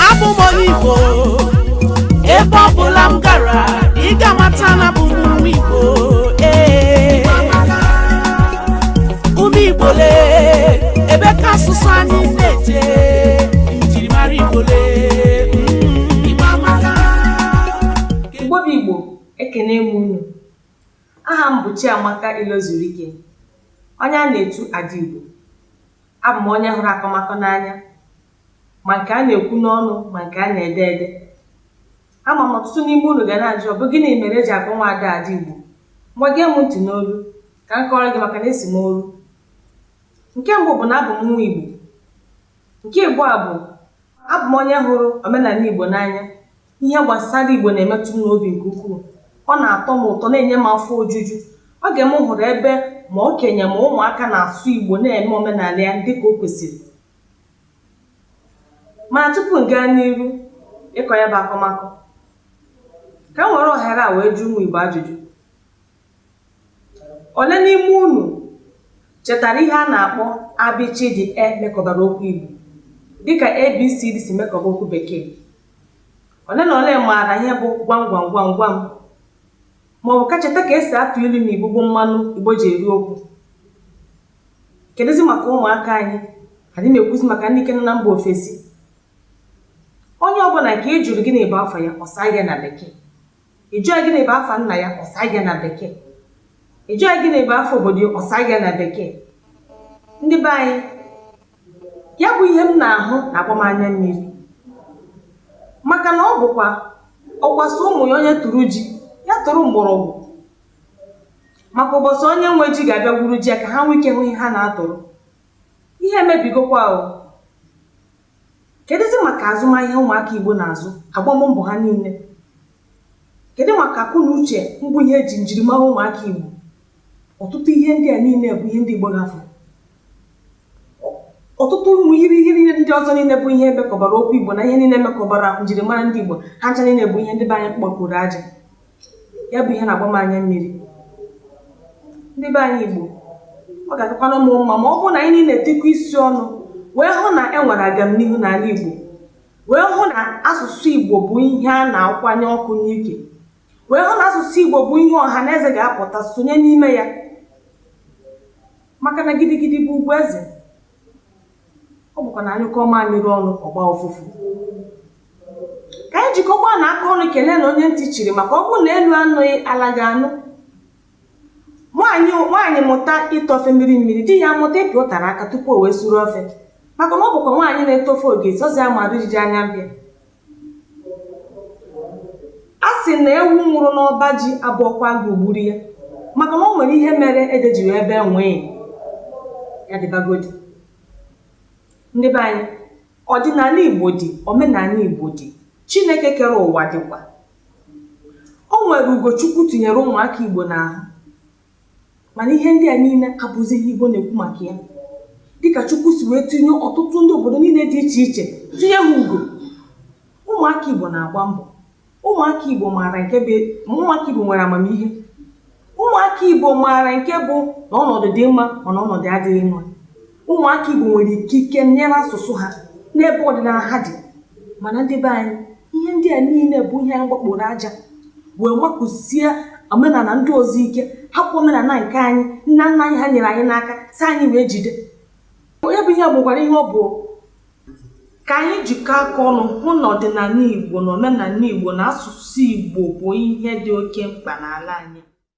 abụ m onye igbo ebe ọ bụla m gara ị ga-amata na abụ m nwa igbo ee ụmụ igbo olee ebe ka asụsụ anyị na-eje njirimara igbo lee mm, igbo amaka igbo bụ igbo ekene m unu aha m bụ chiamaka ilozurike onye a na-etu ada igbo Abụ m onye hụrụ akọmakọ n'anya, ma nke a na-ekwu n'ọnụ ma nke a na-ede ede. Ama m ọtụtụ n'ime unu ga na-ajụ ọ bụ gịnị mere e ji akpọ nwaada Ada Igbo. Ngwa gee m ntị n'olu ka m kọọrọ gị maka na esi m oru. Nke mbụ bụ na abụ m nwa Igbo. Nke ịbụọ bụ abụ m onye hụrụ omenala Igbo n'anya. Ihe gbasara Igbo na-emetụ m n'obi nke ukwuu. Ọ na-atọ m ụtọ, na-enye m afọ ojuju. Oge m hụrụ ebe ma okenye ma ụmụaka na-asụ Igbo na-eme omenala ya dịka o kwesịrị. Mana tupu m gaa n'iru ịkọ ya bụ akọmakọ, ka m were ohere a wee jụọ ụmụ Igbo ajụjụ. Ole n'ime unu chetara ihe a na-akpọ abịchịdị e mekọbara okwu Igbo dịka ABCD si mekọba okwu Bekee? Ole na ole maara ihe bụ gwam gwam gwam gwam maọbụ ka cheta ka esi atụ ilu na Igbo bụ mmanụ Igbo ji eri okwu. Kedụzi maka ụmụaka anyị? Adị m ekwuzi maka ndị nke nọ na mba ofesi. Onye ọbụla nke ị jụrụ gịnị bụ afa ya, ọ saa gị na Bekee. Ị jụọ ya gịnị bụ afa nna ya, ọ saa gị ya na Bekee. Ị jụọ ya gịnị bụ afa obodo ya, ọ saa gị ya na Bekee. Ndị be anyị, ya bụ ihe m na-ahụ na-agba m anya mmiri. Maka na ọ bụkwa ọkwa sị ụmụ ya onye tụrụ ji, ya tụrụ mgbọrọgwụ. Maka ụbọchị onye nwe ji ga-abịa gwuru ji ya ka ha nwee ike hụ ihe ha na-atụrụ. Ihe emebigokwa o. Kedụzi maka azụmahịa ụmụaka Igbo na-azụ agbam mbọ ha niile? Kedụ maka akọ na uche mbụ ihe eji njirimara ụmụaka Igbo? Ọtụtụ ihe ndị a niile bụ ihe ndị Igbo hafụrụ. Ọtụtụ ụmụ irighiri ihe ndị ọzọ niile bụ ihe mekọbara okwu Igbo na ihe niile mekọbara njirimara ndị Igbo ha ncha niile bụ ihe ndị be anyị kpọkuru aja. ya bụ ihe na-agba m anya mmiri ndị be anyị Igbo ọ ga-adịkwanụ m mma ma ọ bụrụ na anyị niile etikọọ isi ọnụ wee hụ na e nwere agamnihu n'ala Igbo wee hụ na asụsụ Igbo bụ ihe a na-akwanye ọkụ n'ike wee hụ na asụsụ Igbo bụ ihe ọha na eze ga-apụta sonye n'ime ya maka na gidigidi bụ ugwu eze ọ bụkwa na a nyụkọọ mamịrị ọnụ ọ gbaa ụfụfụ ka anyị jikọkwanụ aka ọnụ keleenụ onye ntị chiri maka ọ bụrụ na elu anụghị ala ga-anụ nwaanyị mụta ite ofe mmiri mmiri di ya mụta ịpị ụtara aka tupu o wee suru ofe maka na ọ bụkwa nwaanyị na-ete ofe oge ọzi amara ijiji anya mbịa a sị na ewu nwụrụ n'ọba ji abụọkwa agụụ gburu ya maka na o nwere ihe mere ede ji wee bee nwịị ya dịbagodi ndị be anyị ọdịnala igbo dị omenala igbo dị chineke kere ụwa dịkwa o nwere ugo chukwu tinyere ụmụaka igbo n'ahụ Mana ihe ndị a niile abụzi ihe Igbo na-ekwu maka ya dịka Chukwu si wee tinye ọtụtụ ndị obodo niile dị iche iche tinye ha ugo. Ụmụaka Igbo na-agba mbọ. Ụmụaka Igbo maara nke bụ ụmụaka Igbo nwere amamihe. Ụmụaka Igbo maara nke bụ na ọnọdụ dị mma mana ọnọdụ adịghị mma. Ụmụaka Igbo nwere ikike nyere asụsụ ha n'ebe ọdịnala ha dị mana ndị be anyị ihe ndị a niile bụ ihe anyị gbakporo aja wee makụsie omenala ndị ọzọ ike hapụ omenala nke anyị nna nna anyị ha nyere anyị n'aka sị anyị wee jide onye bụ ihe bụkwara ihe ọ bụ ka anyị jikọọ aka ọnụ hụ na ọdịnala Igbo na omenala Igbo na asụsụ Igbo bụ ihe dị oke mkpa n'ala anyị